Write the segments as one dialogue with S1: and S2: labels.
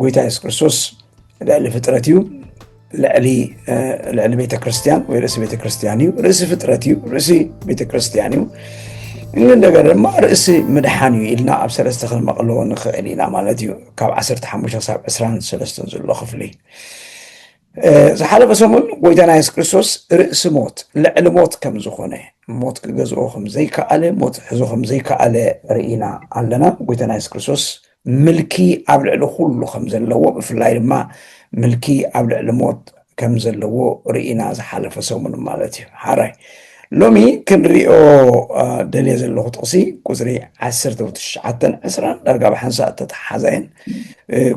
S1: ጎይታ የሱስ ክርስቶስ ልዕሊ ፍጥረት እዩ ልዕሊ ልዕሊ ቤተክርስትያን ወይ ርእሲ ቤተክርስትያን እዩ ርእሲ ፍጥረት እዩ ርእሲ ቤተክርስትያን እዩ እንደገና ድማ ርእሲ ምድሓን እዩ ኢልና ኣብ ሰለስተ ክንመቕሎ ንኽእል ኢና ማለት እዩ ካብ 15 ክሳብ 23 ዘሎ ክፍሊ ዝሓለፈ ሰሙን ጎይታና የሱስ ክርስቶስ ርእሲ ሞት ልዕሊ ሞት ከም ዝኾነ ሞት ክገዝኦ ከም ዘይከኣለ ሞት ሕዞ ከም ዘይከኣለ ርኢና ኣለና ጎይታና የሱስ ክርስቶስ ምልኪ ኣብ ልዕሊ ኩሉ ከም ዘለዎ ብፍላይ ድማ ምልኪ ኣብ ልዕሊ ሞት ከም ዘለዎ ርኢና ዝሓለፈ ሰሙን ማለት እዩ ሓራይ ሎሚ ክንሪኦ ደልየ ዘለኹ ጥቕሲ ቁፅሪ ዓሰርተ ትሽዓተን ዕስራን ዳርጋ ብሓንሳእ እተተሓሓዛ እየን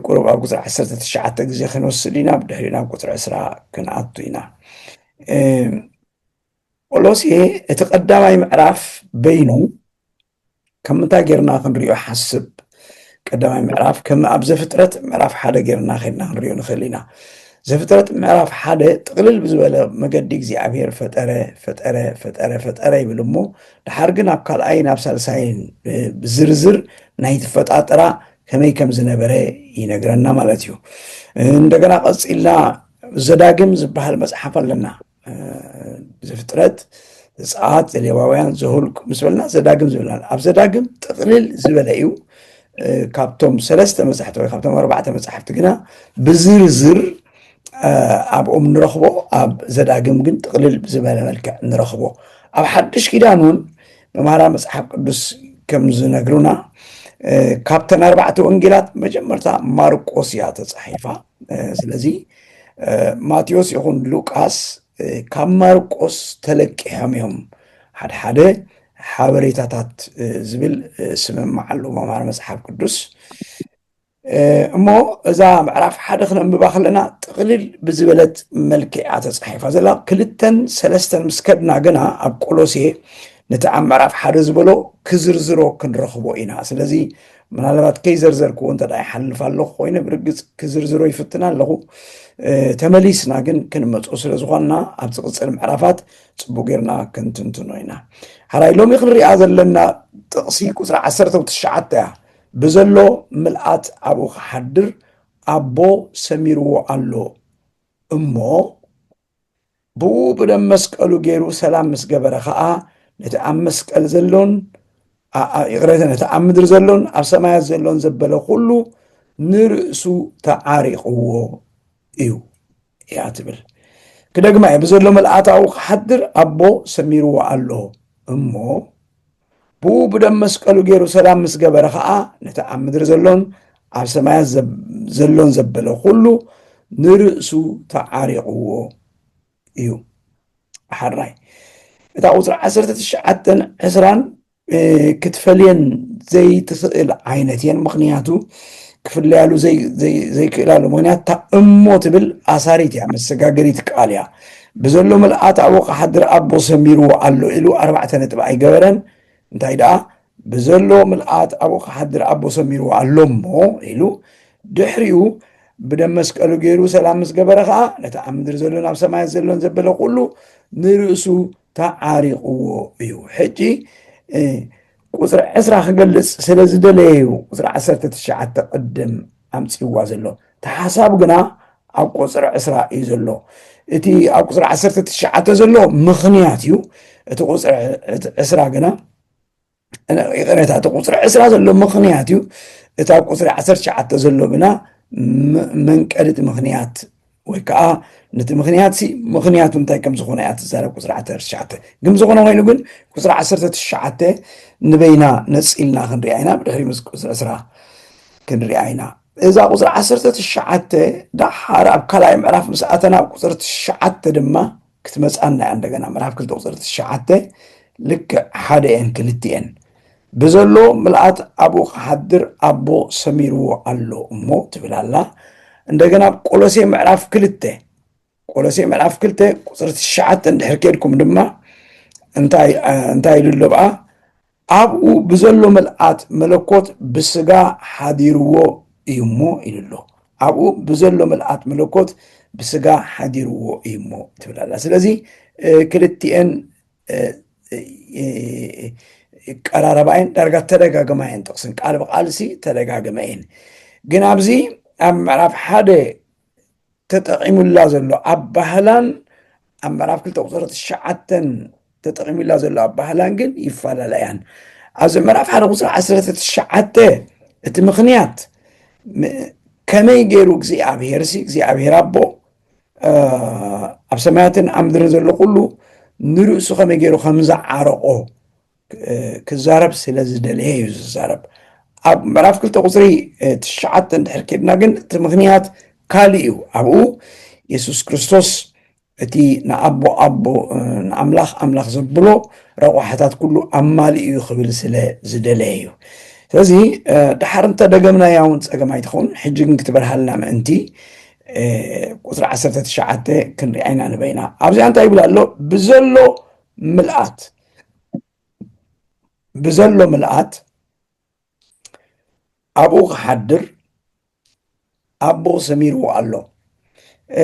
S1: ቁሩብ ኣብ ቁፅሪ ዓሰርተ ትሽዓተ ግዜ ክንወስድ ኢና ብድሕሪኡ ናብ ቁፅሪ ዕስራ ክንኣቱ ኢና ኦሎሴ እቲ ቀዳማይ ምዕራፍ በይኑ ካብ ምንታይ ጌርና ክንሪኦ ሓስብ ቀዳማይ ምዕራፍ ከም ኣብ ዘፍጥረት ምዕራፍ ሓደ ጌርና ከድና ክንሪኦ ንኽእል ኢና ዘፍጥረት ምዕራፍ ሓደ ጥቕልል ብዝበለ መገዲ እግዚኣብሄር ፈጠረ ፈጠረ ፈጠረ ፈጠረ ይብል እሞ ድሓር ግን ኣብ ካልኣይን ኣብ ሳልሳይን ብዝርዝር ናይ ትፈጣጥራ ከመይ ከም ዝነበረ ይነግረና ማለት እዩ እንደገና ቀፂልና ዘዳግም ዝበሃል መፅሓፍ ኣለና ዘፍጥረት ዘፀኣት ዘሌዋውያን ዘሁልቁ ምስ በልና ዘዳግም ዝብልና ኣብ ዘዳግም ጥቕልል ዝበለ እዩ ካብቶም ሰለስተ መፅሕቲ ወይ ካብቶም ኣርባዕተ መፅሕፍቲ ግና ብዝርዝር ኣብኦም ንረኽቦ ኣብ ዘዳግም ግን ጥቕልል ዝበለ መልክዕ ንረኽቦ ኣብ ሓድሽ ኪዳን እውን መምሃራ መፅሓፍ ቅዱስ ከም ዝነግሩና ካብተን ኣርባዕተ ወንጌላት መጀመርታ ማርቆስ እያ ተፃሒፋ ስለዚ ማቴዎስ ይኹን ሉቃስ ካብ ማርቆስ ተለቂሖም እዮም ሓድሓደ ሓበሬታታት ዝብል ስምምዕ ኣሉ መምሃር መፅሓፍ ቅዱስ እሞ እዛ ምዕራፍ ሓደ ክነንብባ ከለና ጥቕልል ብዝበለት መልክዕ እያ ተፃሒፋ ዘላ ክልተን ሰለስተን ምስ ከድና ግና ኣብ ቆሎሴ ነቲ ኣብ ምዕራፍ ሓደ ዝበሎ ክዝርዝሮ ክንረኽቦ ኢና ስለዚ ምናልባት ከይዘርዘርክዎ እንተ ይሓልፍ ኣለኹ ኮይነ ብርግፅ ክዝርዝሮ ይፍትና ኣለኹ። ተመሊስና ግን ክንመፆ ስለ ዝኾንና ኣብዚ ቅፅል ምዕራፋት ፅቡቅ ጌርና ክንትንትኖ ኢና። ሓራይ ሎሚ ክንሪኣ ዘለና ጥቕሲ ቁፅሪ ዓሰርተ ትሽዓተ እያ። ብዘሎ ምልኣት ኣብኡ ክሓድር ኣቦ ሰሚርዎ ኣሎ እሞ ብኡ ብደም መስቀሉ ገይሩ ሰላም ምስ ገበረ ኸኣ ነቲ ኣብ መስቀል ዘሎን ይቕረተ ነቲ ኣብ ምድሪ ዘሎን ኣብ ሰማያት ዘሎን ዘበለ ኩሉ ንርእሱ ተዓሪቕዎ እዩ እያ ትብል ክደግማ እየ ብዘሎ መልኣታዊ ክሓድር ኣቦ ሰሚርዎ ኣሎ እሞ ብኡ ብደም መስቀሉ ገይሩ ሰላም ምስ ገበረ ኸዓ ነቲ ኣብ ምድሪ ዘሎን ኣብ ሰማያት ዘሎን ዘበለ ኩሉ ንርእሱ ተዓሪቕዎ እዩ ሓራይ እታ ቁፅሪ ዓሰርተ ትሽዓተን ዕስራን ክትፈልየን ዘይትኽእል ዓይነት እየን ምክንያቱ ክፍለያሉ ዘይክእላሉ ምክንያት እሞ ትብል ኣሳሪት እያ መሰጋገሪት ቃል እያ ብዘሎ ምልኣት ኣብ ወቕሓድር ኣቦ ሰሚርዎ ኣሎ ኢሉ ኣርባዕተ ነጥቢ ኣይገበረን፣ እንታይ ደኣ ብዘሎ ምልኣት ኣብ ወቕሓድር ኣቦ ሰሚርዎ ኣሎ እሞ ኢሉ ድሕሪኡ ብደም መስቀሉ ገይሩ ሰላም ምስ ገበረ ኸኣ ነቲ ኣብ ምድሪ ዘሎን ኣብ ሰማያት ዘሎን ዘበለ ኩሉ ንርእሱ ተዓሪቕዎ እዩ ሕጂ ቁፅሪ ዕስራ ክገልፅ ስለ ዝደለየ እዩ ቁፅሪ ዓሰርተ ትሽዓተ ቅድም ኣምፅዋ ዘሎ እቲ ሓሳብ ግና ኣብ ቁፅሪ ዕስራ እዩ ዘሎ እቲ ኣብ ቁፅሪ ዓሰርተ ትሽዓተ ዘሎ ምኽንያት እዩ እቲ ቁፅሪ ዕስራ ግና ይቕሬታ እቲ ቁፅሪ ዕስራ ዘሎ ምኽንያት እዩ እቲ ኣብ ቁፅሪ ዓሰርተ ትሽዓተ ዘሎ ግና መንቀሊት ምኽንያት ወይ ከዓ ነቲ ምክንያት ሲ ምክንያቱ እንታይ ከም ዝኾነ እያ ትዛረብ ቁፅሪ ዓሰርተ ትሽዓተ ግን ዝኾነ ኮይኑ ግን ቁፅሪ ዓሰርተ ትሽዓተ ንበይና ነፂልና ክንሪኣ ኢና ብድሕሪ ምስ ቁፅሪ ዕስራ ክንሪኣ ኢና እዛ ቁፅሪ ዓሰርተ ትሽዓተ ዳሓር ኣብ ካልኣይ ምዕራፍ ምስ ኣተና ቁፅሪ ትሽዓተ ድማ ክትመጽኣና እያ እንደገና ምዕራፍ ክልተ ቁፅሪ ትሽዓተ ልክዕ ሓደ እየን ክልቲኤን ብዘሎ ምልኣት ኣብኡ ክሓድር ኣቦ ሰሚርዎ ኣሎ እሞ ትብል ኣላ እንደገና ኣብ ቆሎሴ ምዕራፍ ክልተ ቆሎሴ ምዕራፍ ክልተ ቁፅሪ ትሽዓተ እንድሕር ኬድኩም ድማ እንታይ እንታይ ኢሉ ኣሎ ብኣ ኣብኡ ብዘሎ ምልኣት መለኮት ብስጋ ሓዲርዎ እዩ እሞ ኢሉ ኣሎ። ኣብኡ ብዘሎ ምልኣት መለኮት ብስጋ ሓዲርዎ እዩ እሞ ትብል ኣላ። ስለዚ ክልቲኤን ቀራረባ እየን ዳርጋ ተደጋግማ እየን ጥቕስን ቃል ብቃልሲ ተደጋግመ እየን ግን ኣብዚ ኣብ ምዕራፍ ሓደ ተጠቒሙላ ዘሎ ኣባህላን ኣብ ምዕራፍ ክልተ ቁፅሪ ትሽዓተን ተጠቒሙላ ዘሎ ኣባህላን ግን ይፈላለ እያን ኣብዚ ምዕራፍ ሓደ ቁፅሪ ዓሰርተ ትሽዓተ እቲ ምክንያት ከመይ ገይሩ እግዚኣብሄር ሲ እግዚኣብሄር ኣቦ ኣብ ሰማያትን ኣብ ምድርን ዘሎ ኩሉ ንርእሱ ከመይ ገይሩ ከም ዝዓረቆ ክዛረብ ስለ ዝደለየ እዩ ዝዛረብ ኣብ ምዕራፍ ክልተ ቁፅሪ ትሽዓተ እንድሕር ኬድና ግን እቲ ምክንያት ካልእ እዩ ኣብኡ የሱስ ክርስቶስ እቲ ንኣቦ ኣቦ ንኣምላኽ ኣምላኽ ዘብሎ ረቋሕታት ኩሉ ኣማሊ እዩ ክብል ስለ ዝደለየ እዩ ስለዚ ድሓር እንተ ደገምና ያውን ፀገም ኣይትኸውን ሕጂ ግን ክትበርሃልና ምእንቲ ቁፅሪ 19 ክንሪኣይና ንበይና ኣብዚኣ እንታይ ይብል ኣሎ ብዘሎ ምልኣት ብዘሎ ምልኣት ኣብኡ ክሓድር ኣብኡ ሰሚርዎ ኣሎ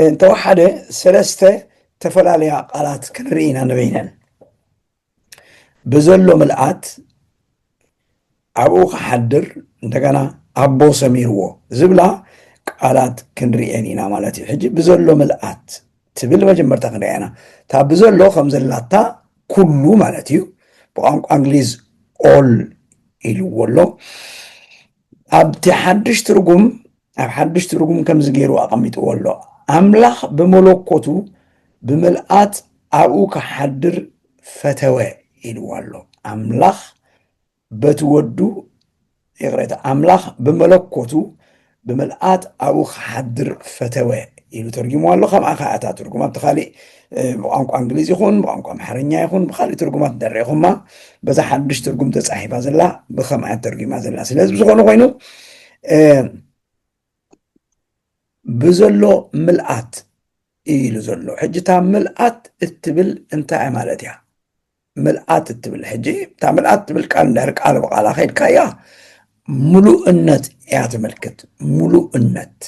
S1: እንተወሓደ ሰለስተ ተፈላለያ ቃላት ክንርኢ ኢና ንበይነን ብዘሎ ምልኣት ኣብኡ ክሓድር እንደገና ኣቦ ሰሚርዎ ዝብላ ቃላት ክንርእየን ኢና ማለት እዩ ሕጂ ብዘሎ ምልኣት ትብል መጀመርታ ክንሪኣ ኢና እታ ብዘሎ ከም ዘላታ ኩሉ ማለት እዩ ብቋንቋ እንግሊዝ ኦል ኢልዎ ኣሎ ኣብቲ ሓድሽ ትርጉም ኣብ ሓድሽ ትርጉም ከምዚ ገይሩ ኣቐሚጥዎ ኣሎ ኣምላኽ ብመለኮቱ ብምልኣት ኣብኡ ክሓድር ፈተወ ኢልዎ ኣሎ ኣምላኽ በቲ ወዱ ይቕሬታ ኣምላኽ ብመለኮቱ ብምልኣት ኣብኡ ክሓድር ፈተወ ኢሉ ተርጊሙ ኣሎ ከምኣ ከዓ እታ ትርጉም ኣብቲ ካሊእ ብቋንቋ እንግሊዝ ይኹን ብቋንቋ ኣምሓርኛ ይኹን ብካሊእ ትርጉማት ደሪኹማ በዛ ሓድሽ ትርጉም ተፃሒፋ ዘላ ብከምኣ ተርጊማ ዘላ ስለዚ ብዝኾነ ኮይኑ ብዘሎ ምልኣት ኢሉ ዘሎ ሕጂ እታ ምልኣት እትብል እንታይ ማለት እያ ምልኣት እትብል ሕጂ እታ ምልኣት ትብል ቃል እንድሕር ቃል ብቃላ ከድካያ ምሉእነት እያ ተመልክት ምሉእነት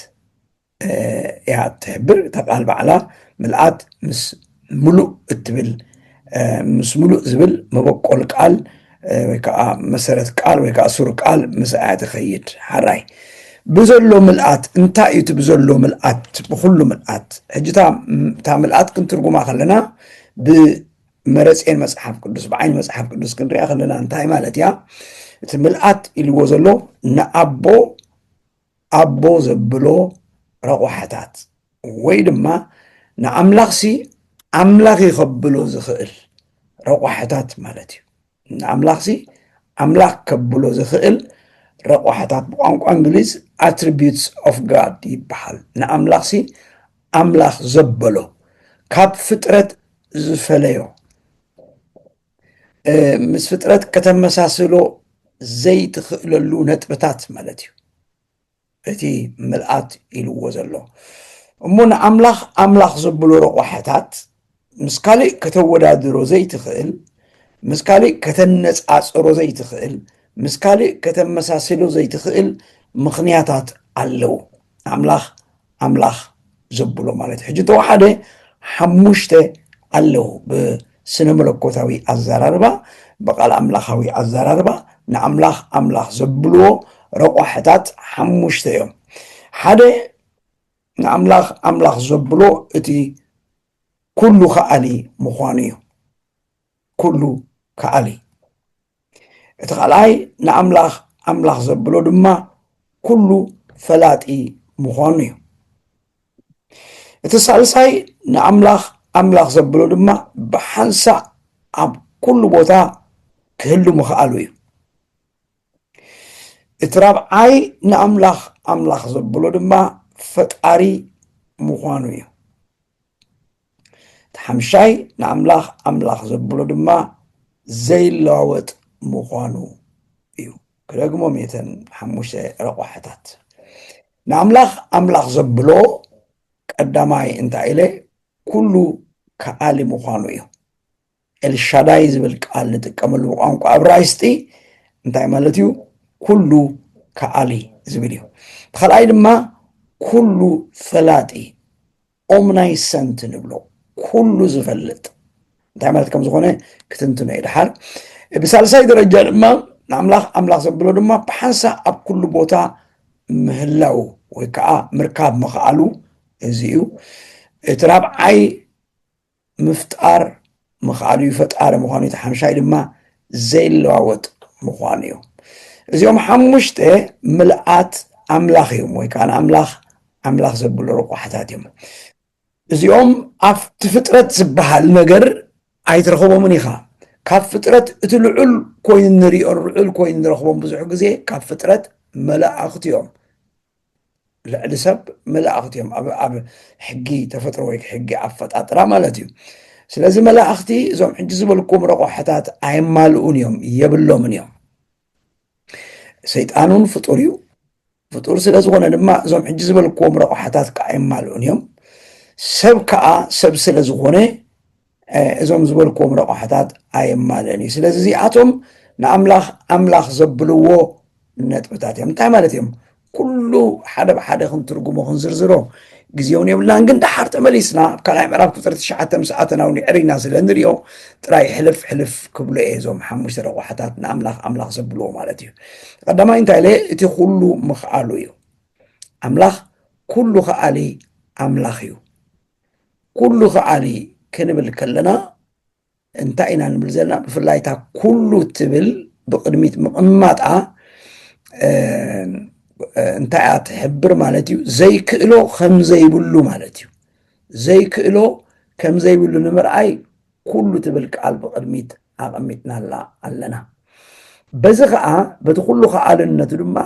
S1: እያ ትሕብር እታ ቃል ባዕላ ምልኣት ምስ ምሉእ እትብል ምስ ምሉእ ዝብል መበቆል ቃል ወይ ከዓ መሰረት ቃል ወይ ከዓ ሱር ቃል ምስ እያ ትኸይድ ሓራይ ብዘሎ ምልኣት እንታይ እዩ እቲ ብዘሎ ምልኣት ብኩሉ ምልኣት ሕጂ እታ ምልኣት ክንትርጉማ ከለና መረጼን መጽሓፍ ቅዱስ ብዓይኒ መጽሓፍ ቅዱስ ክንሪኣ ከለና እንታይ ማለት እያ እቲ ምልኣት ኢልዎ ዘሎ ንኣቦ ኣቦ ዘብሎ ረቑሓታት ወይ ድማ ንኣምላኽሲ ኣምላኽ ይኸብሎ ዝኽእል ረቑሓታት ማለት እዩ ንኣምላኽሲ ኣምላኽ ከብሎ ዝኽእል ረቋሕታት ብቋንቋ እንግሊዝ ኣትሪቢዩትስ ኦፍ ጋድ ይበሃል። ንኣምላኽሲ ኣምላኽ ዘበሎ ካብ ፍጥረት ዝፈለዮ ምስ ፍጥረት ከተመሳስሎ ዘይትኽእለሉ ነጥብታት ማለት እዩ። እቲ ምልኣት ኢልዎ ዘሎ እሞ ንኣምላኽ ኣምላኽ ዘብሉ ረቋሕታት ምስ ካልእ ከተወዳድሮ ዘይትኽእል ምስ ካልእ ከተነጻጽሮ ዘይትኽእል ምስ ካልእ ከተመሳስሎ ዘይትኽእል ምኽንያታት ኣለዉ ኣምላኽ ኣምላኽ ዘብሎ ማለት ሕጂ ተወሓደ ሓሙሽተ ኣለዉ ብስነ መለኮታዊ ኣዘራርባ ብቓል ኣምላኻዊ ኣዘራርባ ንኣምላኽ ኣምላኽ ዘብልዎ ረቋሕታት ሓሙሽተ እዮም ሓደ ንኣምላኽ ኣምላኽ ዘብሎ እቲ ኩሉ ከኣሊ ምዃኑ እዩ ኩሉ ከኣሊ እቲ ካልኣይ ንኣምላኽ ኣምላኽ ዘብሎ ድማ ኩሉ ፈላጢ ምዃኑ እዩ እቲ ሳልሳይ ንኣምላኽ ኣምላኽ ዘብሎ ድማ ብሓንሳእ ኣብ ኩሉ ቦታ ክህሉ ምኽኣሉ እዩ እቲ ራብዓይ ንኣምላኽ ኣምላኽ ዘብሎ ድማ ፈጣሪ ምዃኑ እዩ እቲ ሓምሻይ ንኣምላኽ ኣምላኽ ዘብሎ ድማ ዘይለዋወጥ ምዃኑ እዩ ክደግሞ ሜተን ሓሙሽተ ረቋሕታት ንኣምላኽ ኣምላኽ ዘብሎ ቀዳማይ እንታይ ኢለ ኩሉ ከኣሊ ምዃኑ እዩ ኤልሻዳይ ዝብል ቃል ንጥቀመሉ ብቋንቋ እብራይስጢ እንታይ ማለት እዩ? ኩሉ ከኣሊ ዝብል እዩ። ብካልኣይ ድማ ኩሉ ፈላጢ ኦምናይሰንት ንብሎ ኩሉ ዝፈልጥ እንታይ ማለት ከም ዝኾነ ክትንትኖ እዩ ድሓር። ብሳልሳይ ደረጃ ድማ ንኣምላኽ ኣምላኽ ዘብሎ ድማ ብሓንሳ ኣብ ኩሉ ቦታ ምህላው ወይ ከዓ ምርካብ ምኽኣሉ እዚ እዩ። እቲ ራብዓይ ምፍጣር ምኽኣሉ እዩ፣ ፈጣሪ ምዃኑ እቲ ሓምሻይ ድማ ዘይለዋወጥ ምዃኑ እዩ። እዚኦም ሓሙሽተ ምልኣት ኣምላኽ እዮም ወይ ከዓ ንኣምላኽ ኣምላኽ ዘብሉ ረቋሕታት እዮም። እዚኦም ኣብቲ ፍጥረት ዝበሃል ነገር ኣይትረኽቦምን ኢኻ። ካብ ፍጥረት እቲ ልዑል ኮይኑ ንሪኦ ልዑል ኮይኑ ንረኽቦም ብዙሕ ግዜ ካብ ፍጥረት መላእኽቲ እዮም ልዕሊ ሰብ መላእኽቲ እዮም ኣብ ሕጊ ተፈጥሮ ወይ ሕጊ ኣፈጣጥራ ማለት እዩ ስለዚ መላእኽቲ እዞም ሕጂ ዝበልኩም ረቆሐታት ኣየማልኡን እዮም የብሎምን እዮም ሰይጣን እውን ፍጡር እዩ ፍጡር ስለ ዝኾነ ድማ እዞም ሕጂ ዝበልክዎም ረቑሓታት ከዓ የማልኡን እዮም ሰብ ከዓ ሰብ ስለ ዝኾነ እዞም ዝበልክዎም ረቛሕታት ኣየማልእን እዩ። ስለዚ እዚኣቶም ንኣምላኽ ኣምላኽ ዘብልዎ ነጥብታት እዮም። እንታይ ማለት እዮም? ኩሉ ሓደ ብሓደ ክንትርጉሞ ክንዝርዝሮ ግዜ እውን የብልናን ግን ደሓር ተመሊስና ኣብ ካልኣይ ምዕራፍ ቁፅሪ ትሽዓተ ምስ ኣተናው ንዕሪና ስለ ንሪኦ ጥራይ ሕልፍ ሕልፍ ክብሎ እየ እዞም ሓሙሽተ ረቋሕታት ንኣምላኽ ኣምላኽ ዘብልዎ ማለት እዩ ቀዳማይ እንታይ ኢለ እቲ ኩሉ ምኽኣሉ እዩ ኣምላኽ ኩሉ ከኣሊ ኣምላኽ እዩ ኩሉ ከዓኒ ክንብል ከለና እንታይ ኢና ንብል ዘለና ብፍላይ እታ ኩሉ ትብል ብቅድሚት ምቕማጣ እንታይ እያ ትሕብር ማለት እዩ ዘይክእሎ ከምዘይብሉ ማለት እዩ ዘይክእሎ ከምዘይብሉ ንምርኣይ ኩሉ ትብል ቃል ብቅድሚት ኣቐሚጥናላ ኣለና። በዚ ኸኣ በቲ ኩሉ ከኣልነቱ ድማ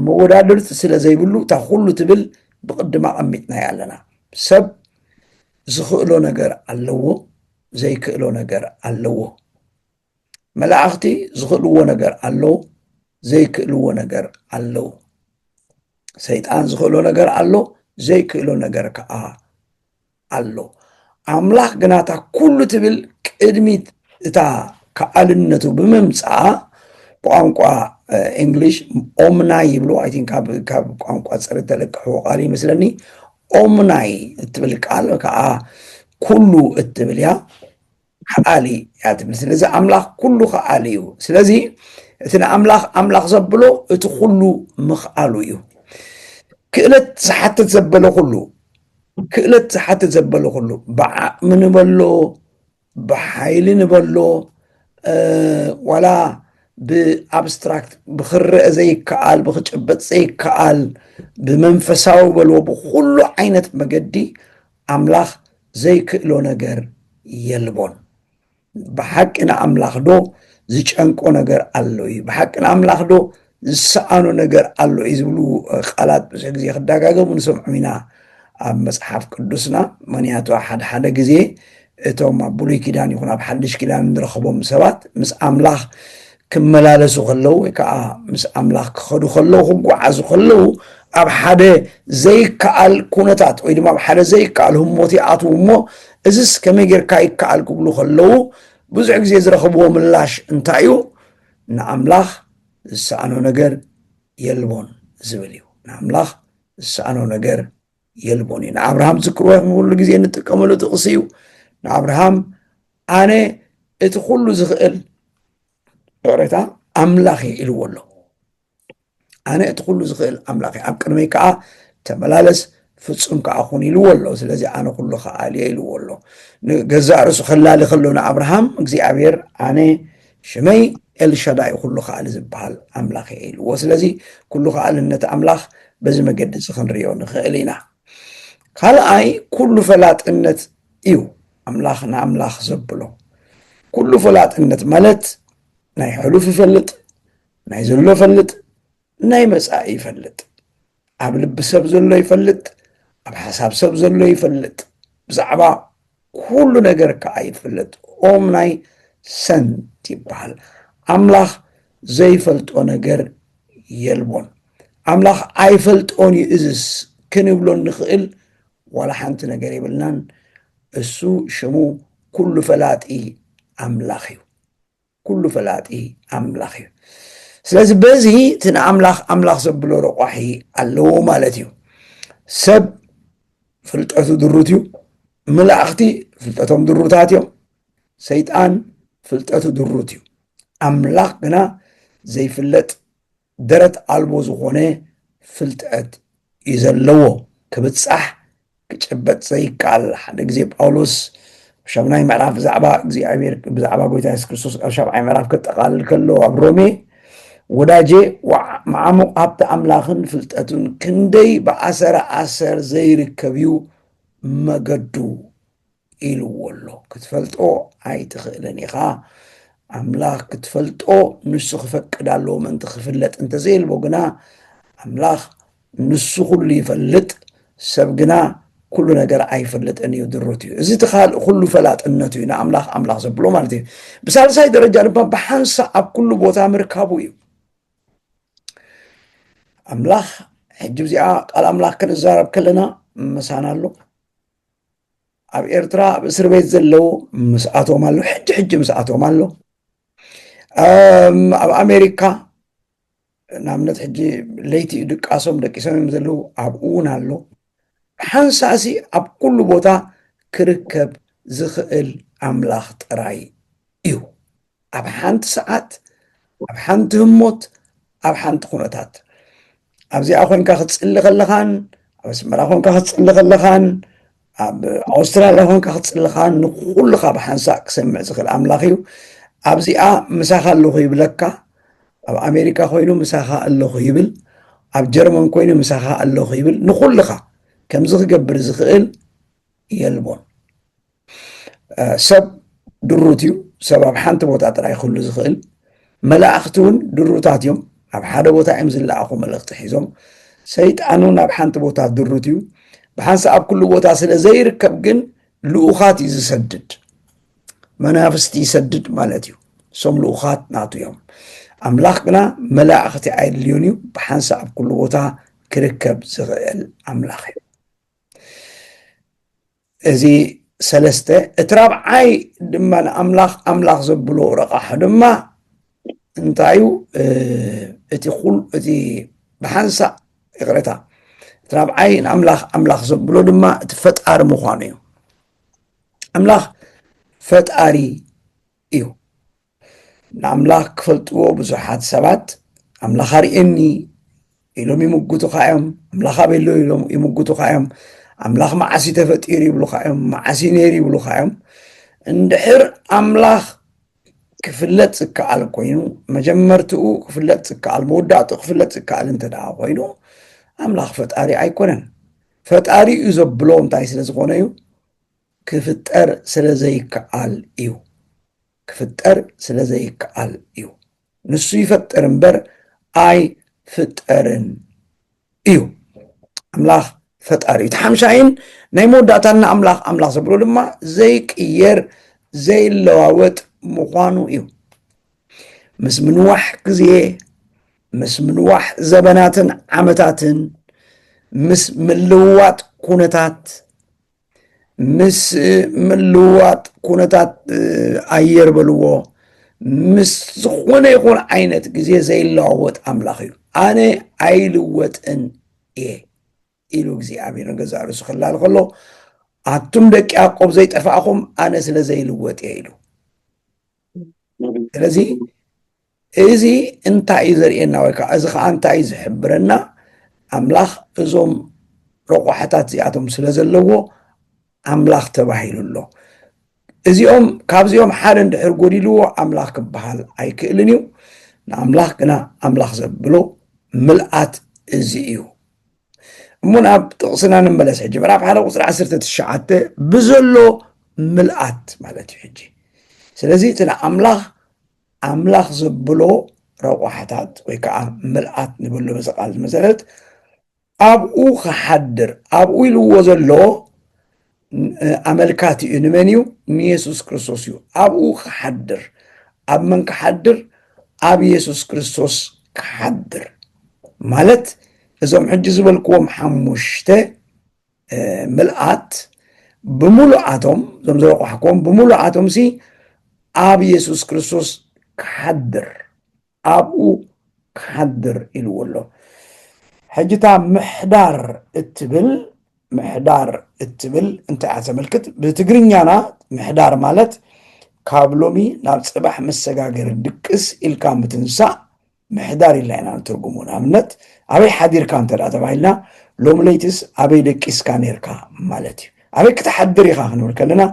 S1: መወዳድርቲ ስለ ዘይብሉ እታ ኩሉ ትብል ብቕድም ኣቐሚጥናያ ኣለና። ሰብ ዝኽእሎ ነገር ኣለዎ፣ ዘይክእሎ ነገር ኣለዎ። መላእኽቲ ዝኽእልዎ ነገር ኣለዎ፣ ዘይክእልዎ ነገር ኣለዎ። ሰይጣን ዝኽእሎ ነገር ኣሎ፣ ዘይክእሎ ነገር ከኣ ኣሎ ኣምላኽ ግና እታ ኩሉ ትብል ቅድሚት እታ ከኣልነቱ ብምምፃኣ ብቋንቋ እንግሊሽ ኦምናይ ይብሉ ኣይ ቲንክ ካብ ቋንቋ ፀሪ ተለቅሕዎ ቃል ይመስለኒ ኦምናይ እትብል ቃል ከዓ ኩሉ እትብል እያ ከኣሊ እያ እቲ ምስሊ እዚ ኣምላኽ ኩሉ ከኣሊ እዩ ስለዚ እቲ ንኣምላኽ ኣምላኽ ዘብሎ እቲ ኩሉ ምኽኣሉ እዩ ክእለት ዝሓትት ዘበለ ኩሉ ክእለት ዝሓትት ዘበለ ኩሉ ብዓቕሚ ንበሎ ብሓይሊ ንበሎ ዋላ ብኣብስትራክት ብክረአ ዘይከኣል ብክጨበጥ ዘይከኣል ብመንፈሳዊ በልዎ ብኩሉ ዓይነት መገዲ ኣምላኽ ዘይክእሎ ነገር የልቦን። ብሓቂ ንኣምላኽ ዶ ዝጨንቆ ነገር ኣሎ እዩ? ብሓቂ ንኣምላኽ ዶ ዝሰኣኖ ነገር ኣሎ እዩ? ዝብሉ ቃላት ብዙሕ ግዜ ክደጋገሙ ንሰምዖም ኢና ኣብ መጽሓፍ ቅዱስና። ምክንያቱ ሓድሓደ ግዜ እቶም ኣብ ብሉይ ኪዳን ይኹን ኣብ ሓድሽ ኪዳን እንረኽቦም ሰባት ምስ ኣምላኽ ክመላለሱ ከለዉ ወይ ከዓ ምስ ኣምላኽ ክኸዱ ከለዉ ክጓዓዙ ከለዉ ኣብ ሓደ ዘይከኣል ኩነታት ወይ ድማ ኣብ ሓደ ዘይከኣል ህሞት ይኣትዉ እሞ እዚስ ከመይ ጌርካ ይከኣል ክብሉ ከለዉ ብዙሕ ግዜ ዝረኽብዎ ምላሽ እንታይ እዩ ንኣምላኽ ዝሰኣኖ ነገር የልቦን ዝብል እዩ ንኣምላኽ ዝሰኣኖ ነገር የልቦን እዩ ንኣብርሃም ዝክሮ ንኩሉ ግዜ እንጥቀመሉ ጥቕሲ እዩ ንኣብርሃም ኣነ እቲ ኩሉ ዝኽእል ዕቅሬታ ኣምላኽ እዩ ኢልዎ ኣሎ ኣነ እቲ ኩሉ ዝኽእል ኣምላኽ እዩ ኣብ ቅድመይ ከዓ ተመላለስ ፍፁም ከዓ ኹን ኢልዎ ኣሎ ስለዚ ኣነ ኩሉ ከኣል እየ ኢልዎ ኣሎ ንገዛእ ርእሱ ከላሊ ከሎ ንኣብርሃም እግዚኣብሔር ኣነ ሽመይ ኤልሻዳይ ኩሉ ከኣሊ ዝበሃል ኣምላኽ እየ ኢልዎ። ስለዚ ኩሉ ከኣልነት ኣምላኽ በዚ መገዲ እዚ ክንሪኦ ንኽእል ኢና። ካልኣይ ኩሉ ፈላጥነት እዩ ኣምላኽ ንኣምላኽ ዘብሎ። ኩሉ ፈላጥነት ማለት ናይ ሕሉፍ ይፈልጥ፣ ናይ ዘሎ ፈልጥ፣ ናይ መጻኢ ይፈልጥ ኣብ ልቢ ሰብ ዘሎ ይፈልጥ ኣብ ሓሳብ ሰብ ዘሎ ይፈልጥ ብዛዕባ ኩሉ ነገር ከዓ ይፈልጥ ኦም ናይ ሰንት ይበሃል ኣምላኽ ዘይፈልጦ ነገር የልቦን ኣምላኽ ኣይፈልጦን እዩ እዝስ ክንብሎ እንኽእል ዋላ ሓንቲ ነገር የብልናን እሱ ሽሙ ኩሉ ፈላጢ ኣምላኽ እዩ ኩሉ ፈላጢ ኣምላኽ እዩ ስለዚ በዚ እቲ ንኣምላኽ ኣምላኽ ዘብሎ ረቋሒ ኣለዎ ማለት እዩ ሰብ ፍልጠቱ ድሩት እዩ መላእኽቲ ፍልጠቶም ድሩታት እዮም ሰይጣን ፍልጠቱ ድሩት እዩ ኣምላኽ ግና ዘይፍለጥ ደረት ኣልቦ ዝኾነ ፍልጠት እዩ ዘለዎ ክብጻሕ ክጭበጥ ዘይከኣል ሓደ ግዜ ጳውሎስ ሻሙናይ ምዕራፍ ብዛዕባ እግዚኣብሔር ብዛዕባ ጎይታ የሱስ ክርስቶስ ኣብ ሻብዓይ ምዕራፍ ከጠቃልል ከሎ ኣብ ሮሜ ወዳጄ መዓሙቕ ሃብቲ ኣምላኽን ፍልጠቱን ክንደይ ብኣሰረ ኣሰር ዘይርከብ እዩ መገዱ ኢልዎ ኣሎ ክትፈልጦ ኣይትኽእልን ኢኻ ኣምላኽ ክትፈልጦ ንሱ ክፈቅድ ኣለዎ ምእንቲ ክፍለጥ እንተዘየልቦ ግና ኣምላኽ ንሱ ኩሉ ይፈልጥ ሰብ ግና ኩሉ ነገር ኣይፈልጥን እዩ ድሩት እዩ እዚ እቲ ካልእ ኩሉ ፈላጥነቱ እዩ ንኣምላኽ ኣምላኽ ዘብሎ ማለት እዩ ብሳልሳይ ደረጃ ድማ ብሓንሳ ኣብ ኩሉ ቦታ ምርካቡ እዩ ኣምላኽ ሕጂ እዚኣ ቃል ኣምላኽ ክንዛረብ ከለና ምሳና ኣሎ ኣብ ኤርትራ ኣብ እስር ቤት ዘለዉ ምስኣቶም ኣሎ ሕጂ ሕጂ ምስኣቶም ኣሎ ኣብ ኣሜሪካ ንኣብነት ሕጂ ለይቲ እዩ ድቃሶም ደቂሶም እዮም ዘለዉ ኣብኡ እውን ኣሎ ሓንሳእሲ ኣብ ኩሉ ቦታ ክርከብ ዝኽእል ኣምላኽ ጥራይ እዩ ኣብ ሓንቲ ሰዓት ኣብ ሓንቲ ህሞት ኣብ ሓንቲ ኩነታት ኣብዚኣ ኮንካ ክትፅሊ ከለኻን ኣብ ኣስመራ ኮንካ ክትፅሊ ከለኻን ኣብ ኣውስትራልያ ኮንካ ክትፅሊ ከን ንኩልካ ብሓንሳእ ክሰምዕ ዝኽእል ኣምላኽ እዩ ኣብዚኣ ምሳኻ ኣለኹ ይብለካ ኣብ ኣሜሪካ ኮይኑ ምሳኻ ኣለኹ ይብል ኣብ ጀርመን ኮይኑ ምሳኻ ኣለኹ ይብል ንኩልኻ ከምዚ ክገብር ዝኽእል የልቦን ሰብ ድሩት እዩ። ሰብ ኣብ ሓንቲ ቦታ ጥራይ ክህሉ ዝኽእል። መላእኽቲ እውን ድሩታት እዮም። ኣብ ሓደ ቦታ እዮም ዝለኣኹ መልእኽቲ ሒዞም። ሰይጣን እውን ኣብ ሓንቲ ቦታ ድሩት እዩ። ብሓንሳ ኣብ ኩሉ ቦታ ስለ ዘይርከብ ግን ልኡኻት እዩ ዝሰድድ፣ መናፍስቲ ይሰድድ ማለት እዩ። እሶም ልኡኻት ናቱ እዮም። ኣምላኽ ግና መላእኽቲ ኣየድልዮን እዩ። ብሓንሳ ኣብ ኩሉ ቦታ ክርከብ ዝኽእል ኣምላኽ እዩ። እዚ ሰለስተ እቲ ራብዓይ ድማ ንኣምላኽ ኣምላኽ ዘብሎ ረቛሒ ድማ እንታይ እዩ እቲ ኩል እቲ ብሓንሳእ ይቕረታ እቲ ራብዓይ ንኣምላኽ ኣምላኽ ዘብሎ ድማ እቲ ፈጣሪ ምዃኑ እዩ ኣምላኽ ፈጣሪ እዩ ንኣምላኽ ክፈልጥዎ ብዙሓት ሰባት ኣምላኽ ኣርእየኒ ኢሎም ይምጉቱኻ እዮም ኣምላኽ ኣበሎ ኢሎም ይምጉቱኻ እዮም ኣምላኽ መዓስ እዩ ተፈጢሩ ይብሉኻ እዮም መዓስ እዩ ነይሩ ይብሉኻ እዮም እንድሕር ኣምላኽ ክፍለጥ ዝከኣል ኮይኑ መጀመርትኡ ክፍለጥ ዝከኣል መወዳእትኡ ክፍለጥ ዝከኣል እንተ ደኣ ኮይኑ ኣምላኽ ፈጣሪ ኣይኮነን ፈጣሪ እዩ ዘብሎ እንታይ ስለ ዝኾነ እዩ ክፍጠር ስለ ዘይከኣል እዩ ክፍጠር ስለ ዘይከኣል እዩ። ንሱ ይፈጥር እምበር ኣይፍጠርን እዩ። ኣምላኽ ፈጣሪ እዩ። እቲ ሓምሻይን ናይ መወዳእታን ንኣምላኽ ኣምላኽ ዘብሎ ድማ ዘይቅየር ዘይለዋወጥ ምዃኑ እዩ። ምስ ምንዋሕ ግዜ ምስ ምንዋሕ ዘበናትን ዓመታትን ምስ ምልውዋጥ ኩነታት ምስ ምልዋጥ ኩነታት ኣየር በልዎ ምስ ዝኾነ ይኹን ዓይነት ግዜ ዘይለዋወጥ ኣምላኽ እዩ ኣነ ኣይልወጥን እየ ኢሉ እግዚኣብሔር ንገዛ ርእሱ ክላል ከሎ ኣቱም ደቂ ያዕቆብ ዘይጠፋእኹም ኣነ ስለ ዘይልወጥ እየ ኢሉ ስለዚ እዚ እንታይ እዩ ዘርእየና ወይ ከዓ እዚ ከዓ እንታይ እዩ ዝሕብረና ኣምላኽ እዞም ረቋሕታት እዚኣቶም ስለ ዘለዎ ኣምላኽ ተባሂሉ ኣሎ እዚኦም ካብዚኦም ሓደ እንድሕር ጎዲልዎ ኣምላኽ ክበሃል ኣይክእልን እዩ ንኣምላኽ ግና ኣምላኽ ዘብሎ ምልኣት እዚ እዩ እሞ ናብ ጥቕስና ንመለስ ሕጂ ምዕራፍ ሓደ ቁፅሪ ዓሰርተ ትሽዓተ ብዘሎ ምልኣት ማለት እዩ ሕጂ ስለዚ እቲ ንኣምላኽ ኣምላኽ ዘብሎ ረቋሕታት ወይ ከዓ ምልኣት ንብሎ በዚ ቃል መሰረት ኣብኡ ክሓድር ኣብኡ ኢልዎ ዘሎ ኣመልካቲ እዩ ንመን እዩ ንየሱስ ክርስቶስ እዩ ኣብኡ ክሓድር ኣብ መን ክሓድር ኣብ የሱስ ክርስቶስ ክሓድር ማለት እዞም ሕጂ ዝበልክዎም ሓሙሽተ ምልኣት ብምሉኣቶም እዞም ዝረቋሕኩም ብምሉኣቶም ሲ ኣብ የሱስ ክርስቶስ ክሓድር ኣብኡ ክሓድር ኢልዎ ኣሎ ሕጂ እታ ምሕዳር እትብል ምሕዳር እትብል እንታይ እያ ተመልክት ብትግርኛና ምሕዳር ማለት ካብ ሎሚ ናብ ፅባሕ መሰጋገሪ ድቅስ ኢልካ ምትንሳእ ምሕዳር ኢልና ኢና ንትርጉሙ። ንኣብነት ኣበይ ሓዲርካ እንተ ተባሂልና ሎሚ ለይትስ ኣበይ ደቂስካ ኔርካ ማለት እዩ። ኣበይ ክትሓድር ኢኻ ክንብል ከለና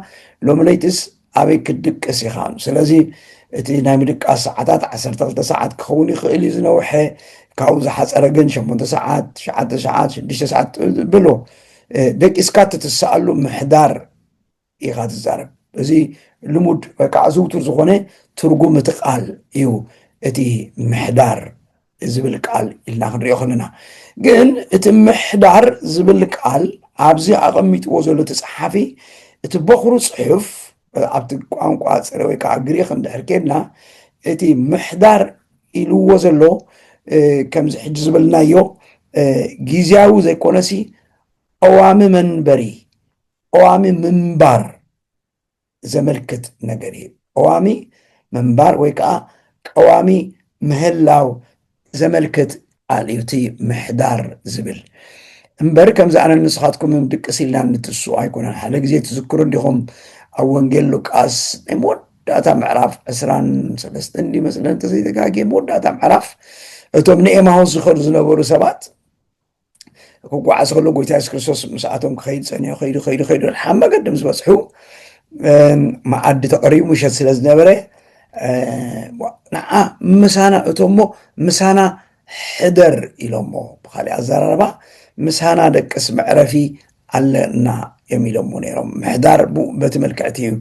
S1: ሎሚ ለይትስ ኣበይ ክትድቅስ ኢኻ። ስለዚ እቲ ናይ ምድቃስ ሰዓታት ዓሰርተ ክልተ ሰዓት ክኸውን ይኽእል እዩ ዝነውሐ፣ ካብኡ ዝሓፀረ ግን ሸሞንተ ሰዓት፣ ትሽዓተ ሰዓት፣ ሽዱሽተ ሰዓት በሎ ደቂስካ እትትስኣሉ ምሕዳር ኢኻ ትዛረብ እዚ ልሙድ ወይ ከዓ ዝውቱር ዝኾነ ትርጉም እቲ ቃል እዩ እቲ ምሕዳር ዝብል ቃል ኢልና ክንሪኦ ከለና ግን እቲ ምሕዳር ዝብል ቃል ኣብዚ ኣቐሚጥዎ ዘሎ እቲ ፀሓፊ እቲ በኹሩ ፅሑፍ ኣብቲ ቋንቋ ፅረ ወይ ከዓ ግሪክ እንድሕር ኬድና እቲ ምሕዳር ኢልዎ ዘሎ ከምዚ ሕጂ ዝበልናዮ ግዜያዊ ዘይኮነሲ ቀዋሚ መንበሪ ቐዋሚ ምንባር ዘመልክት ነገር እዩ። ቐዋሚ ምንባር ወይ ከዓ ቀዋሚ ምህላው ዘመልክት ቃል እዩ እቲ ምሕዳር ዝብል እምበር ከምዚ ኣነን ንስኻትኩምን ድቅስ ኢልና ንትስኡ ኣይኮነን። ሓደ ግዜ ትዝክሩ እንዲኹም ኣብ ወንጌል ሉቃስ ናይ መወዳእታ ምዕራፍ ዕስራን ሰለስተን እንዲ መስለን እንተዘይተጋጌ መወዳእታ ምዕራፍ እቶም ንኤማሆስ ዝኸዱ ዝነበሩ ሰባት ክጓዓዝ ከሎ ጎይታ የሱስ ክርስቶስ ምስኣቶም ክኸይድ ፀኒሑ ከይዱ ከይዱ ከይዱ ሓብ መገዲ ምስ በፅሑ መዓዲ ተቐሪቡ ምሸት ስለ ዝነበረ ንዓ ምሳና እቶሞ ምሳና ሕደር ኢሎሞ ብካሊእ ኣዘራርባ ምሳና ደቅስ መዕረፊ ኣለና እዮም ኢሎሞ ነይሮም ምሕዳር በቲ መልክዕቲ እዩ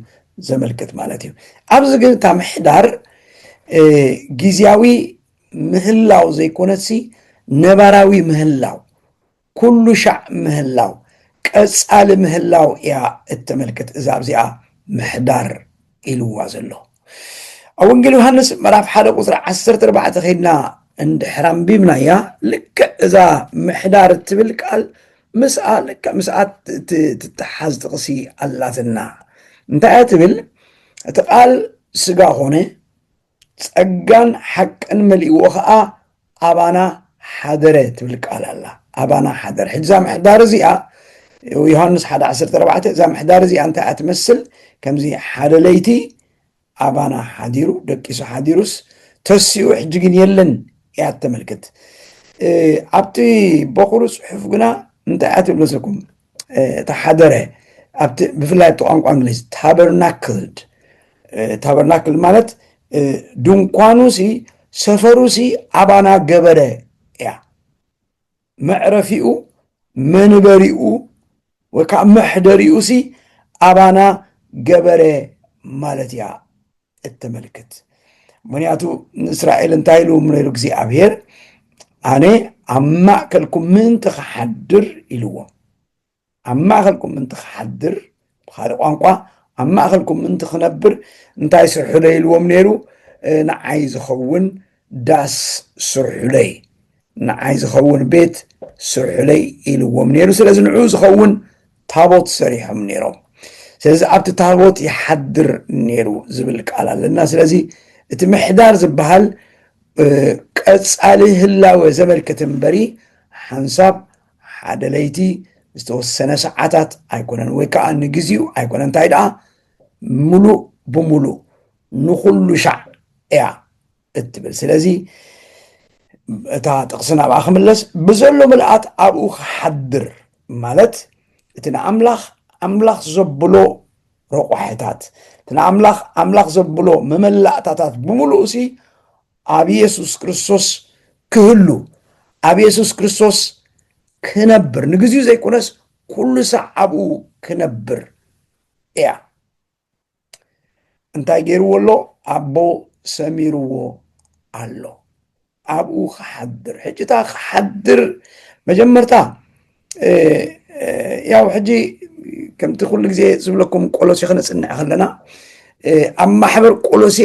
S1: ዘመልክት ማለት እዩ ኣብዚ ግን እታ ምሕዳር ግዜያዊ ምህላው ዘይኮነሲ ነባራዊ ምህላው ኩሉ ሻዕ ምህላው ቀጻሊ ምህላው እያ እተመልክት እዛ ኣብዚኣ ምሕዳር ኢልዋ ዘሎ ኣብ ወንጌል ዮሃንስ ምዕራፍ ሓደ ቁፅሪ ዓሰርተ ኣርባዕተ ከይድና እንድሕር ኣንቢብናያ ልክዕ እዛ ምሕዳር እትብል ቃል ምስኣ ልክዕ ምስኣ ትተሓዝ ጥቕሲ ኣላትና እንታይ እያ ትብል እቲ ቃል ስጋ ኾነ ጸጋን ሓቅን መሊእዎ ኸኣ ኣባና ሓደረ ትብል ቃል ኣላ ኣባና ሓደረ ሕጂ እዛ ምሕዳር እዚኣ ዮሃንስ ሓደ ዓሰርተ ኣርባዕተ እዛ ምሕዳር እዚኣ እንታይ እያ ትመስል ከምዚ ሓደ ለይቲ ኣባና ሓዲሩ ደቂሱ ሓዲሩስ ተሲኡ ሕጂ ግን የለን እያ ተመልክት ኣብቲ በኹሩ ፅሑፍ ግና እንታይ እያ ትብል መሰልኩም እታ ሓደረ ብፍላይ ኣብቲ ቋንቋ እንግሊዝ ታበርናክልድ ታበርናክል ማለት ድንኳኑ ሲ ሰፈሩ ሲ ኣባና ገበረ እያ መዕረፊኡ መንበሪኡ ወይ ከዓ መሕደሪኡ ሲ ኣባና ገበረ ማለት እያ እተመልክት ምክንያቱ ንእስራኤል እንታይ ኢሉ ነይሩ እግዚኣብሔር ኣነ ኣብ ማእከልኩም ምእንቲ ክሓድር ኢልዎም ኣብ ማእከልኩም ምእንቲ ክሓድር ብካልእ ቋንቋ ኣብ ማእከልኩም ምእንቲ ክነብር እንታይ ስርሕሎ ኢልዎም ነይሩ ንዓይ ዝኸውን ዳስ ስርሑለይ ንዓይ ዝኸውን ቤት ስርሑለይ ኢልዎም ነይሩ ስለዚ ንዑ ዝኸውን ታቦት ሰሪሖም ነይሮም ስለዚ ኣብቲ ታቦት ይሓድር ነይሩ ዝብል ቃል ኣለና ስለዚ እቲ ምሕዳር ዝበሃል ቀፃሊ ህላወ ዘመልክት እምበሪ ሓንሳብ ሓደ ለይቲ ዝተወሰነ ሰዓታት ኣይኮነን ወይ ከዓ ንግዚኡ ኣይኮነ እንታይ ደኣ ምሉእ ብምሉእ ንኩሉ ሻዕ እያ እትብል ስለዚ እታ ጥቕሲ ናብኣ ክምለስ ብዘሎ ምልኣት ኣብኡ ክሓድር ማለት እቲ ንኣምላኽ ኣምላኽ ዘብሎ ረቋሒታት እቲ ንኣምላኽ ኣምላኽ ዘብሎ መመላእታታት ብምሉእ ሲ ኣብ የሱስ ክርስቶስ ክህሉ ኣብ የሱስ ክርስቶስ ክነብር ንግዚኡ ዘይኮነስ ኩሉ ሳዕ ኣብኡ ክነብር እያ እንታይ ገይርዎ ኣሎ ኣቦ ሰሚርዎ ኣሎ ኣብኡ ክሓድር ሕጂታ ክሓድር መጀመርታ ያው ሕጂ ከምቲ ኩሉ ግዜ ዝብለኩም ቆሎሴ ክነፅንዕ ከለና ኣብ ማሕበር ቆሎሴ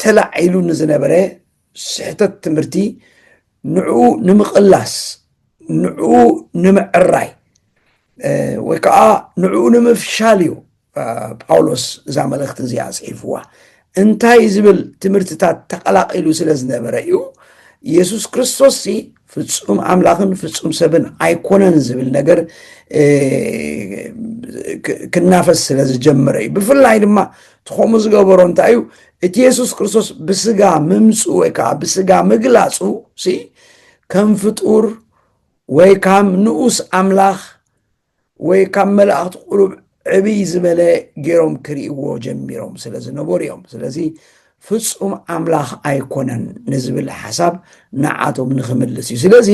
S1: ተላዒሉ ንዝነበረ ስሕተት ትምህርቲ ንዕኡ ንምቕላስ ንዕኡ ንምዕራይ ወይ ከዓ ንዕኡ ንምፍሻል እዩ ጳውሎስ እዛ መልእኽቲ እዚኣ ጽሒፍዋ እንታይ ዝብል ትምህርትታት ተቐላቂሉ ስለ ዝነበረ እዩ የሱስ ክርስቶስ ፍጹም ኣምላኽን ፍጹም ሰብን ኣይኮነን ዝብል ነገር ክናፈስ ስለ ዝጀመረ እዩ ብፍላይ ድማ ትኸምኡ ዝገበሮ እንታይ እዩ እቲ የሱስ ክርስቶስ ብስጋ ምምፁ ወይ ከዓ ብስጋ ምግላፁ ሲ ከም ፍጡር ወይ ካም ንኡስ ኣምላኽ ወይ ካብ መላእኽቲ ቁሩብ ዕብይ ዝበለ ገይሮም ክርእይዎ ጀሚሮም ስለ ዝነበሩ እዮም ስለዚ ፍጹም ኣምላኽ ኣይኮነን ንዝብል ሓሳብ ንዓቶም ንክምልስ እዩ ስለዚ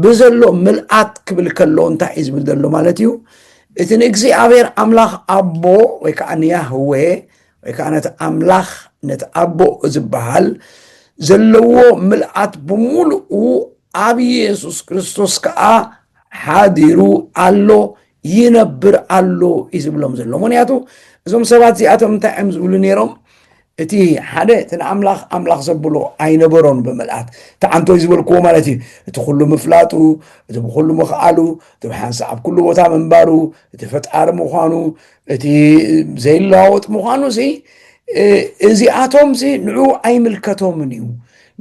S1: ብዘሎ ምልኣት ክብል ከሎ እንታይ እዩ ዝብል ዘሎ ማለት እዩ እቲ ንእግዚኣብሔር ኣምላኽ ኣቦ ወይ ከዓ ንያህዌ ወይ ከዓ ነቲ ኣምላኽ ነቲ ኣቦ ዝበሃል ዘለዎ ምልኣት ብምሉኡ ኣብ ኢየሱስ ክርስቶስ ከዓ ሓዲሩ ኣሎ ይነብር ኣሎ እዩ ዝብሎም ዘሎ ምክንያቱ እዞም ሰባት እዚኣቶም እንታይ እዮም ዝብሉ ነይሮም እቲ ሓደ እቲ ንኣምላኽ ኣምላኽ ዘብሎ ኣይነበሮን ብምልኣት እቲ ዓንቶይ ዝበልክዎ ማለት እዩ እቲ ኩሉ ምፍላጡ እቲ ብኩሉ ምኽኣሉ እቲ ብሓንሳእ ኣብ ኩሉ ቦታ ምንባሩ እቲ ፈጣሪ ምዃኑ እቲ ዘይለዋወጥ ምዃኑ ሲ እዚኣቶም ሲ ንዑ ኣይምልከቶምን እዩ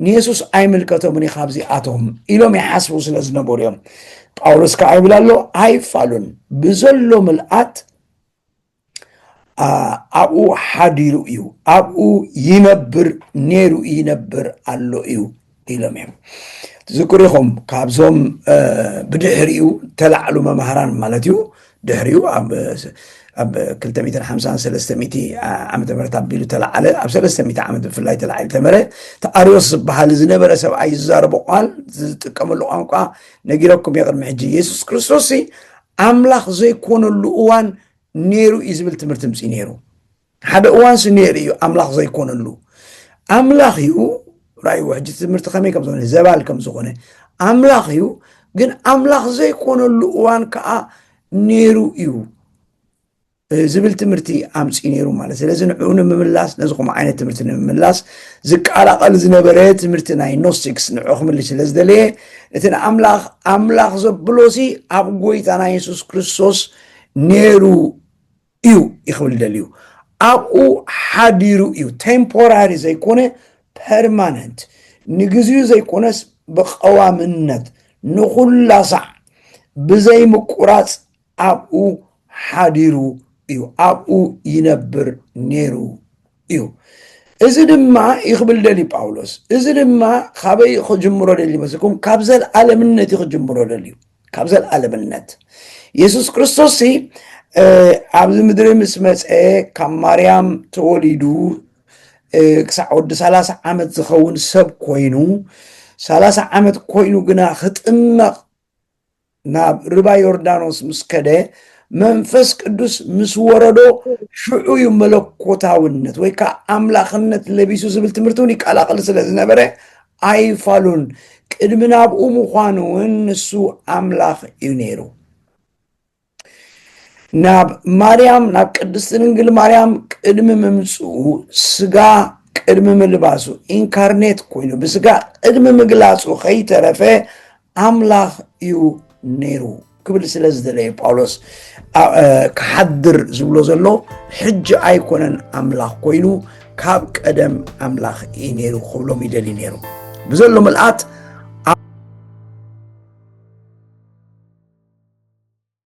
S1: ንየሱስ ኣይምልከቶምን እዩ ካብዚኣቶም ኢሎም ይሓስቡ ስለ ዝነበሩ እዮም ጳውሎስ ከዓ ይብል ኣሎ ኣይፋሉን ብዘሎ ምልኣት ኣብኡ ሓዲሩ እዩ ኣብኡ ይነብር ነይሩ ይነብር ኣሎ እዩ ኢሎም እዮም ትዝክሩ ኢኹም ካብዞም ብድሕሪኡ ተላዕሉ መማህራን ማለት እዩ ድሕሪኡ ኣብ 253 ዓመተ ምህረት ኣቢሉ ተላዓለ ኣብ 300 ዓመት ብፍላይ ተላዒሉ ተመረ ተኣርዮስ ዝበሃል ዝነበረ ሰብኣይ ዝዛረቦ ቋል ዝጥቀመሉ ቋንቋ ነጊረኩም የቅድሚ ሕጂ የሱስ ክርስቶስ ኣምላኽ ዘይኮነሉ እዋን ነይሩ እዩ ዝብል ትምህርቲ ምፅ ነይሩ ሓደ እዋን ስሚኤል እዩ ኣምላኽ ዘይኮነሉ ኣምላኽ እዩ ራእይዎ ሕጂ ትምህርቲ ከመይ ከም ዝኾነ ዘባል ከም ዝኾነ ኣምላኽ እዩ ግን ኣምላኽ ዘይኮነሉ እዋን ከዓ ነይሩ እዩ ዝብል ትምህርቲ ኣምፂ ነይሩ ማለት ስለዚ ንዕኡ ንምምላስ ነዚ ከምኡ ዓይነት ትምህርቲ ንምምላስ ዝቀላቐል ዝነበረ ትምህርቲ ናይ ኖስቲክስ ንዕኡ ክምልስ ስለ ዝደለየ እቲ ንኣምላኽ ኣምላኽ ዘብሎሲ ኣብ ጎይታና የሱስ ክርስቶስ ነይሩ እዩ ይክብል ደልዩ ኣብኡ ሓዲሩ እዩ ቴምፖራሪ ዘይኮነ ፐርማነንት ንግዚኡ ዘይኮነስ ብቀዋምነት ንኩላ ሳዕ ብዘይ ምቁራፅ ኣብኡ ሓዲሩ እዩ ኣብኡ ይነብር ነይሩ እዩ እዚ ድማ እዩ ክብል ደልዩ ጳውሎስ እዚ ድማ ካበይ ክጅምሮ ደልዩ መስልኩም ካብ ዘለዓለምነት እዩ ክጅምሮ ደልዩ ካብ ዘለዓለምነት የሱስ ክርስቶስ ሲ ኣብዚ ምድሪ ምስ መፀ ካብ ማርያም ተወሊዱ ክሳዕ ወዲ ሰላሳ ዓመት ዝኸውን ሰብ ኮይኑ ሰላሳ ዓመት ኮይኑ ግና ክጥመቕ ናብ ርባ ዮርዳኖስ ምስ ከደ መንፈስ ቅዱስ ምስ ወረዶ ሽዑ እዩ መለኮታውነት ወይ ከዓ ኣምላኽነት ለቢሱ ዝብል ትምህርቲ እውን ይቀላቅል ስለ ዝነበረ ኣይፋሉን ቅድሚ ናብኡ ምዃኑ እውን ንሱ ኣምላኽ እዩ ነይሩ ናብ ማርያም ናብ ቅድስቲ ድንግል ማርያም ቅድሚ ምምፅኡ ስጋ ቅድሚ ምልባሱ ኢንካርኔት ኮይኑ ብስጋ ቅድሚ ምግላፁ ከይተረፈ ኣምላኽ እዩ ነይሩ ክብል ስለ ዝደለየ ጳውሎስ ክሓድር ዝብሎ ዘሎ ሕጂ ኣይኮነን ኣምላኽ ኮይኑ ካብ ቀደም ኣምላኽ እዩ ነይሩ ክብሎም ይደልዩ ነይሩ ብዘሎ ምልኣት